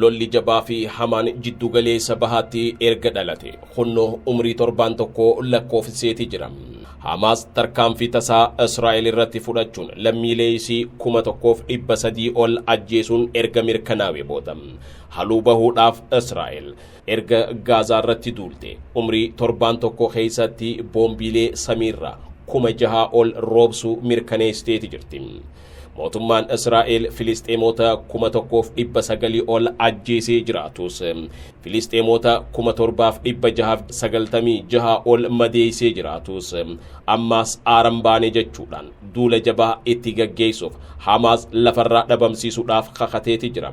Lolli jabaa fi hamaan jiddugaleessa bahaatti erga dhalate kunno umrii torbaan tokko lakkoofsiseeti jira. Hamaas tarkaanfii tasaa Israa'el irratti fudhachuun lammiilee isii kuma tokkoof dhibba sadii ol ajjeesuun erga mirkanaa'e booda haluu bahuudhaaf Israa'el erga Gaazaa irratti duulte umrii torbaan tokko keessatti boombiilee samiirraa kuma jahaa ol roobsuu mirkaneessiteeti jirti. Mootummaan Israa'el Filisxeemoota kuma tokkoof dhibba sagalii ol ajjeesee jiraatus Filisxeemoota kuma torbaaf dhibba jahaaf sagaltamii jaha ol madeeysee jiraatus ammaas aaran baane jechuudhaan duula jabaa itti gaggeeysuuf Hamaas lafarraa dhabamsiisuudhaaf kakateeti jira.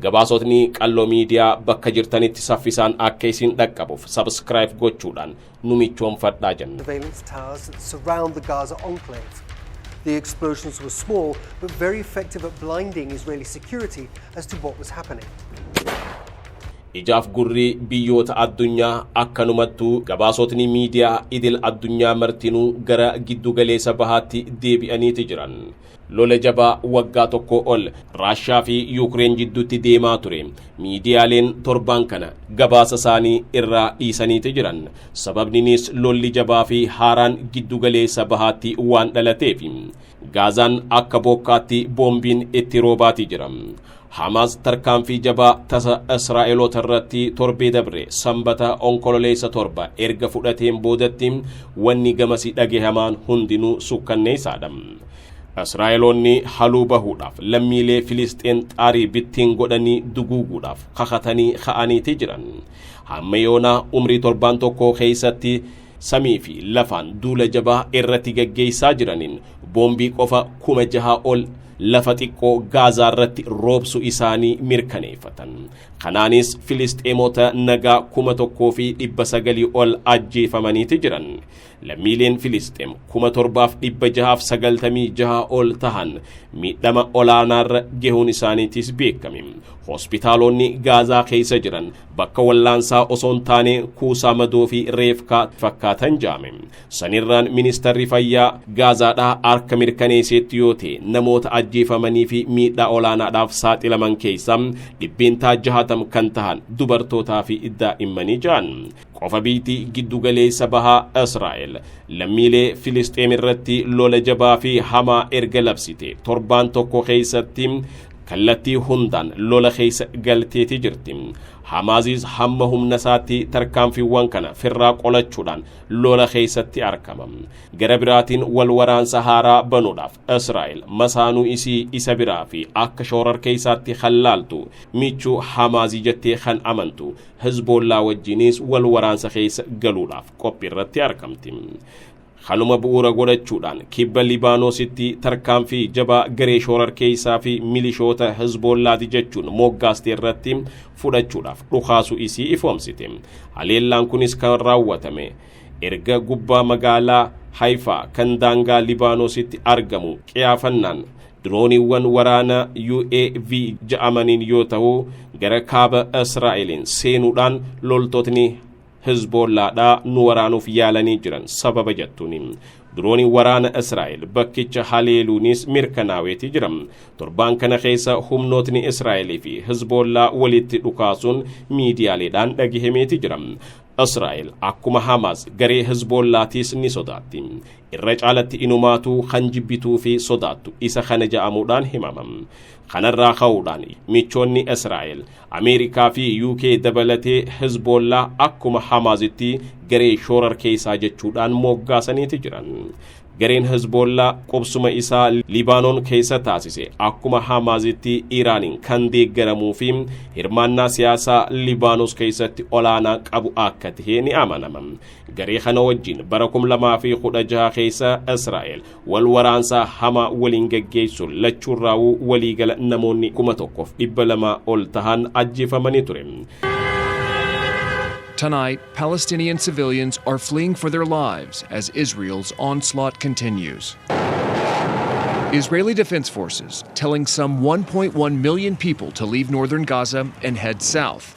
Gabaasotni Qalloo Miidiyaa bakka jirtanitti saffisaan akka isin dhaqqabuuf subscribe gochuudhaan nu michoomfadhaa jenna. surveillance towers that surround the Gaza enclave. The explosions were small, but very effective at blinding Israeli security as to what was happening. Ijaaf gurri biyyoota addunyaa akkanumattuu gabaasotni miidiyaa idil addunyaa martinuu gara giddugaleessa bahaatti deebi'aniiti jiran. Lola jabaa waggaa tokkoo ol Raashaa fi Yuukreen jidduutti deemaa ture miidiyaaleen torbaan kana gabaasa isaanii irraa dhiisaniiti jiran. Sababninis lolli jabaa fi haaraan giddu galeessa bahaatti waan dhalateefi. Gaazaan akka bookkaatti boombiin itti roobaati jira. Hamaas tarkaanfii jabaa tasa Israa'eloota irratti torbee dabre Sambata Onkololeessa torba erga fudhateen boodatti wanni gamasi dhagehamaan hundinuu sukkanneessaadha. Israa'eloonni haluu bahuudhaaf lammiilee Filisxeen xaarii bittiin godhanii duguuguudhaaf kakatanii ka'aniiti jiran. Hamma yoonaa umrii torbaan tokkoo keessatti samii fi lafaan duula jabaa irratti gaggeessaa jiraniin boombii qofa kuma jahaa ol lafa xiqqoo gaazaa irratti roobsu isaanii mirkaneeffatan. Kanaanis Filisxeemota nagaa kuma tokkoo fi dhibba sagalii ol ajjeefamaniiti jiran. Lammiileen Filisxeem kuma torbaaf dhibba jahaaf sagaltamii jaha ol tahan miidhama olaanaarra gehuun isaaniitis beekame. Hospitaaloonni Gaazaa keessa jiran bakka wallaansaa osoo hin taane kuusaa madoo fi reefkaa fakkaatan jaame sanirraan ministarri fayyaa gaazaadhaa harka mirkaneesseetti yoo ta'e namoota ajjeefamanii fi miidhaa olaanaadhaaf saaxilaman keessaa dhibbeentaa jahatam kan tahan dubartootaa fi daa'immanii ja'an qofa biitii giddugaleessa bahaa israa'el lammiilee filisxeem irratti lola jabaa fi hamaa erga labsite torbaan tokko keessatti kallattii hundaan lola keessa galteetii jirti. Hamaaziis hamma humna isaatti tarkaanfiiwwan kana firraa qolachuudhaan lola keessatti argama. Gara biraatiin wal waraansa haaraa banuudhaaf Israa'el masaanuu isii isa biraa fi akka shoorar keessaatti kan laaltu michuu Hamaazii jettee kan amantu Hizboollaa wajjinis wal waraansa keessa galuudhaaf qophii irratti argamti. Kanuma bu'uura godhachuudhaan kibba Libaanoositti tarkaanfii jabaa garee shoorarkeessaa fi milishoota Hizboollaati jechuun moggaaste irratti fudhachuudhaaf dhukaasu isii ifoomsite. Haleellaan kunis kan raawwatame erga gubbaa magaalaa Hayfaa kan daangaa Libaanoositti argamu qiyaafannaan dirooniiwwan waraana UAV ja'amaniin yoo ta'u gara kaaba Israa'eliin seenuudhaan loltootni Hizboollaadhaa nu waraanuuf yaalanii jiran sababa jettuuni. Dirooniin waraana Israa'el bakkicha haleeluunis mirkanaaweeti jira. Torbaan kana keessa humnootni Israa'el fi Hizboollaa walitti dhukaasuun miidiyaaleedhaan dhagahameeti jira. Israa'el akkuma Hamaas garee Hizboollaatiis ni sodaatti. Irra caalatti inumaatuu kan jibbituu fi sodaattu isa kana ja'amuudhaan himama. Kanarraa ka'uudhaan michoonni Israa'el Ameerikaa fi UK dabalatee Hizboollaa akkuma Hamaazitti garee shoorarkeessaa jechuudhaan mooggaasaniiti jiran. Gareen Hizboollaa qubsuma isaa Libaanoon keessa taasise akkuma Hamaazitti Iraaniin kan deeggaramuu fi hirmaannaa siyaasaa Libaanos keessatti olaanaa qabu akka ta'e ni amanama. Garee kana wajjin bara 2016 keessa Israa'el wal waraansaa hamaa waliin gaggeessuun lachuurraawuu waliigala namoonni kuma tokkoof dhibba lamaa ol tahan ajjeefamanii ture. Tonight, Palestinian civilians are fleeing for their lives as Israel's onslaught continues. Israeli Defense Forces telling some 1.1 million people to leave northern Gaza and head south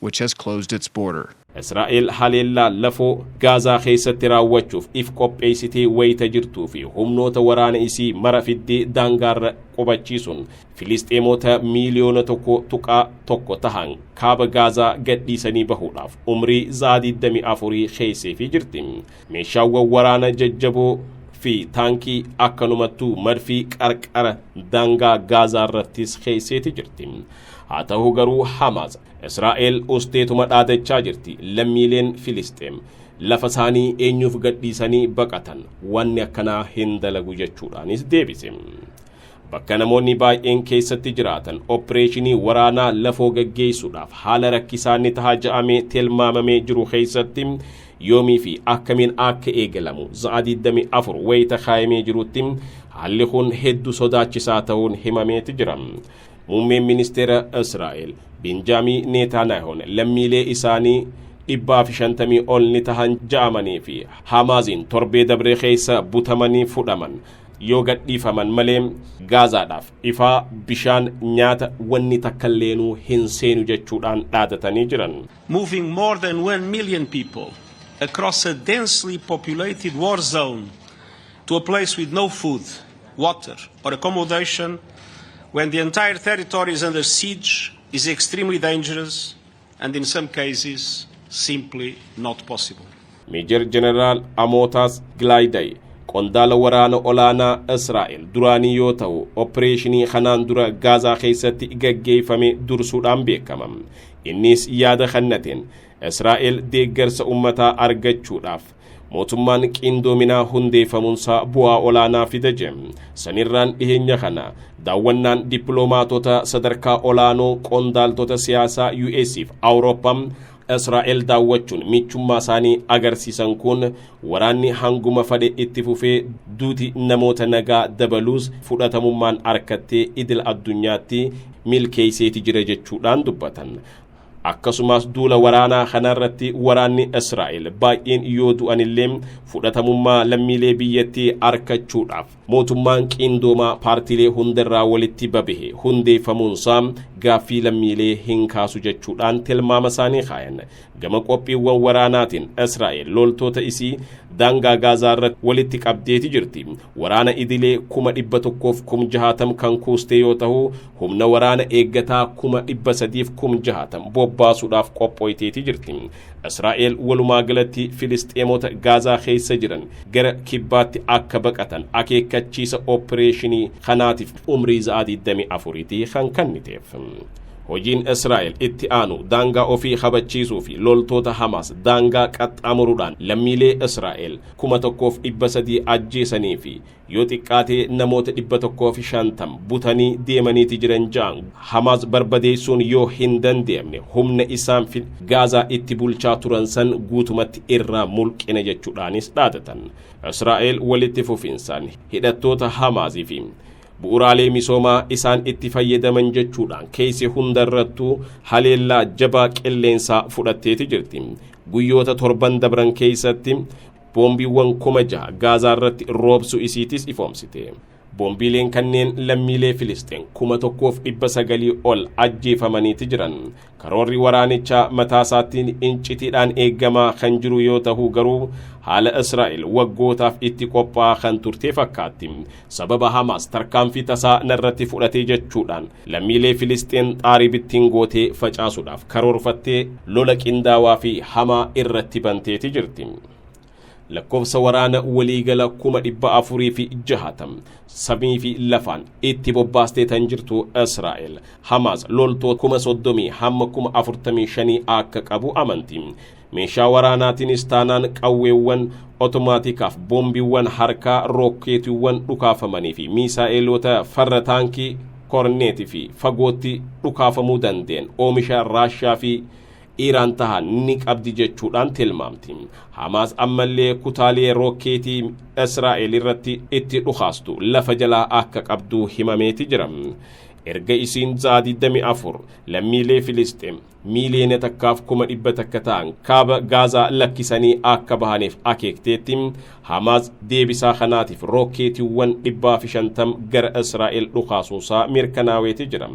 which has closed its border. Israa'el haleellaa lafoo Gaazaa keessatti raawwachuuf if qopheessitee wayita jirtuu fi humnoota waraana isii mara fiddee daangaarra qubachiisuun Filisxeemoota miiliyoona tokko tuqaa tokko tahan kaaba Gaazaa gadhiisanii bahuudhaaf umrii za'aa 24 keesseefii jirti. Meeshaawwan waraana jajjaboo fi taankii akkanumattuu madfii qarqara daangaa Gaazaa irrattis keesseeti jirti. Haa tahu garuu Hamaas, Israa'el usteetuma dhaadachaa jirti. Lammiileen Filisxeem lafa isaanii eenyuuf gadhiisanii baqatan? Wanni akkanaa hin dalagu jechuudhaanis deebise. Bakka namoonni baay'een keessatti jiraatan oppireeshinii waraanaa lafoo gaggeessuudhaaf haala rakkisaa ni taha ja'amee tilmaamamee jiru keessatti yoomii fi akkamiin akka eegalamu za'a 24 wayita kaayamee jirutti haalli kun heddu sodaachisaa ta'uun himameeti jira. Muummeen ministeera Israa'el Benjaamii Neetaanaahoon lammiilee isaanii dhibbaa fi shantamii ol ni tahan ja'amanii fi Haamaaziin torbee dabree keessa butamanii fudhaman yoo gadhiifaman malee Gaazaadhaaf ifaa bishaan nyaata wanni takkalleenuu hin seenu jechuudhaan dhaadatanii jiran. Moving more than 1 million people across a densely populated war zone to a place with no food, water or accommodation when the entire territory is under siege is extremely dangerous and in some cases simply not possible. Meejar Jeneraal Amootaas Gilaayiday qondaala waraana olaanaa Israa'el duraanii yoo ta'u, opereeshinii kanaan dura Gaazaa keessatti gaggeeffame dursuudhaan beekama. Innis yaada kannateen Israa'el deeggarsa ummataa argachuudhaaf mootummaan qiindoominaa hundeeffamuunsaa bu'aa olaanaa fida jedhe. Sanirraan dhiheenya kana daawwannaan dippiloomaatota sadarkaa olaanoo qondaaltota siyaasaa US'f Awurooppaa Israa'el daawwachuun michummaa isaanii agarsiisan kun waraanni hanguma fadhe itti fufee duuti namoota nagaa dabaluus fudhatamummaan harkattee idil addunyaatti milkeesseeti jira jechuudhaan dubbatan. Akkasumaas duula waraanaa kanarratti waraanni Israa'el baay'een yoo du'anillee fudhatamummaa lammiilee biyyattii arkachuudhaaf mootummaan qiindoomaa paartiilee hundarraa walitti babahe hundeeffamuunsaa gaaffii lammiilee hin kaasu jechuudhaan tilmaama isaanii kaayan. Gama qophiiwwan waraanaatiin Israa'el loltoota isii daangaa Gaazaa irratti walitti qabdeeti jirti. Waraana idilee kuma dhibba tokkoof kum jahaatam kan kuustee yoo ta'u humna waraana eeggataa kuma dhibba sadiif kum jahaatam bobbaasuudhaaf qophooyteeti jirti. Israa'el walumaa galatti Filisxeemota Gaazaa keessa jiran gara kibbaatti akka baqatan akeekkachiisa oppireeshinii kanaatiif umrii za'aa 24ti kan kanniteef. Hojiin Israa'el itti aanu daangaa ofii kabachiisuu fi loltoota Hamaas daangaa qaxxaamuruudhaan lammiilee Israa'el kuma tokkoof dhibba sadii ajjeesanii fi yoo xiqqaate namoota 150 butanii deemaniiti jiran ja'an Hamaas barbadeessuun yoo hin danda'amne humna isaan fi Gaazaa itti bulchaa turan san guutumatti irraa mulqina jechuudhaanis dhaadatan. Israa'el walitti fufinsaan hidhattoota Hamaasii fi bu'uraalee misoomaa isaan itti fayyadaman jechuudhaan keessa hundarrattuu haleellaa jabaa qilleensaa fudhatteeti jirti. Guyyoota torban dabran keessatti Boombiiwwan kuma jaha Gaazaa irratti roobsu isiitis ifoomsite. Boombiileen kanneen lammiilee Filisxeen kuma tokkoof dhibba sagalii ol ajjeefamaniiti jiran. Karoorri waraanichaa mataasaatiin incitiidhaan eegamaa kan jiru yoo tahu garuu haala Israa'el waggootaaf itti qophaa'aa kan turtee fakkaatti. Sababa Hamaas tarkaanfii tasaa narratti fudhatee jechuudhaan lammiilee Filisxeen xaarii bittiin gootee facaasuudhaaf karoorfattee lola qindaawaa fi hamaa irratti banteeti jirti. Lakkoofsa waraana waliigala kuma dhibba afurii fi jahatam samii fi lafaan itti bobbaastee tan jirtu Israa'el Hamaas loltoota kuma soddomii hamma kuma afurtamii shanii akka qabu amanti. Meeshaa waraanaatiinis taanaan qawweewwan otomaatikaaf boombiiwwan harkaa rookkeetiiwwan dhukaafamanii fi miisaa'eeloota farra taankii korneetii fi fagootti dhukaafamuu dandeen oomisha Raashaa fi Iiraan tahan ni qabdi jechuudhaan tilmaamti. Hamaas ammallee kutaalee rookkeetii Israa'el irratti itti dhukaastu lafa jalaa akka qabdu himameeti jira. Erga isiin Zaa 24 lammiilee Filisxeem miiliyoona takkaaf kuma dhibba takka ta'an kaaba Gaazaa lakkisanii akka bahaniif akeekteetti Hamaas deebisaa kanaatiif rookeetiiwwan dhibbaa fi shantam gara Israa'el dhukaasuunsaa mirkanaaweeti jira.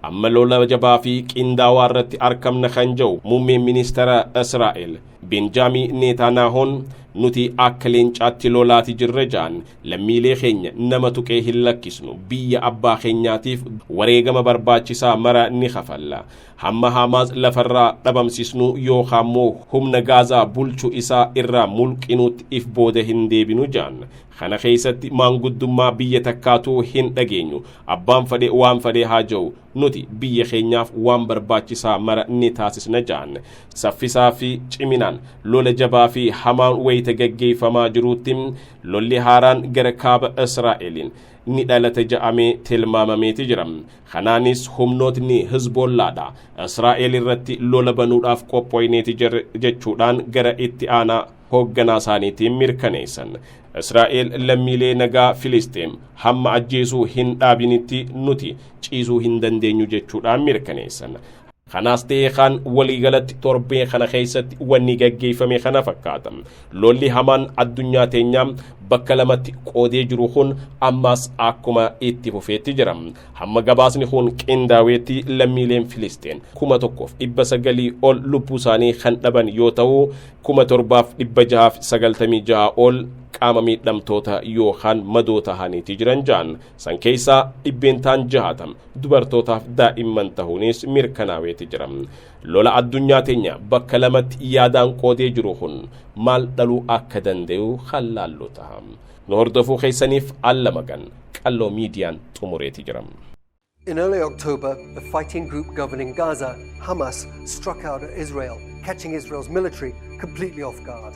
Amma lola jabaa fi qindaawaa irratti arkamna kan jedhu muummeen ministeera Israa'el Benjaamii Neetaanaahoon nuti akka leencaatti lolaati jirra ja'an lammiilee keenya nama tuqee hin lakkisnu biyya abbaa keenyaatiif wareegama barbaachisaa mara ni kafalla Hamma Haamaas lafarraa dhabamsisnuu yookaan immoo humna Gaazaa bulchu isaa irraa mulqinuutti if booda hin deebinu jaan. Kana keessatti maanguddummaa biyya takkaatu hin dhageenyu. Abbaan fadhe waan fadhe haa ja'u. Nuti biyya keenyaaf waan barbaachisaa mara ni taasisna jaan. Saffisaa fi ciminaan lola jabaa fi hamaan wayita gaggeeffamaa jiruutti lolli haaraan gara kaaba Israa'eliin ni dhalata ja'amee tilmaamameeti jira. Kanaanis humnootni Hizboollaadha Israa'el irratti lola banuudhaaf qophooyneeti jirra jechuudhaan gara itti aanaa hoogganaa isaaniitiin mirkaneessan. Israa'el lammiilee nagaa Filisxeem hamma ajjeesuu hin dhaabinitti nuti ciisuu hin dandeenyu jechuudhaan mirkaneessan. Kanaas ta'ee kaan waliigalatti torbee kana keessatti wanni gaggeeffame kana fakkaata. Lolli hamaan addunyaa teenyaa bakka lamatti qoodee jiru kun ammaas akkuma itti fufeetti jira. Hamma gabaasni kun qindaaweetti lammiileen Filisteen kuma tokkoof dhibba sagalii ol lubbuu isaanii kan dhaban yoo ta'u kuma torbaaf dhibba jahaaf sagaltamii jaha ol qaama miidhamtoota yookaan madoo tahaniiti jiran ja'an. San keessaa dhibbeentaan jahatam dubartootaaf daa'imman tahuunis mirkanaaweeti jira. Lola addunyaa teenya bakka lamatti yaadaan qoodee jiru kun maal dhaluu akka danda'u kan laallu taha. Nu hordofuu keessaniif alla magan qalloo miidiyaan xumureeti jira. In early October, the fighting group governing Gaza, Hamas, struck out at Israel, catching Israel's military completely off guard.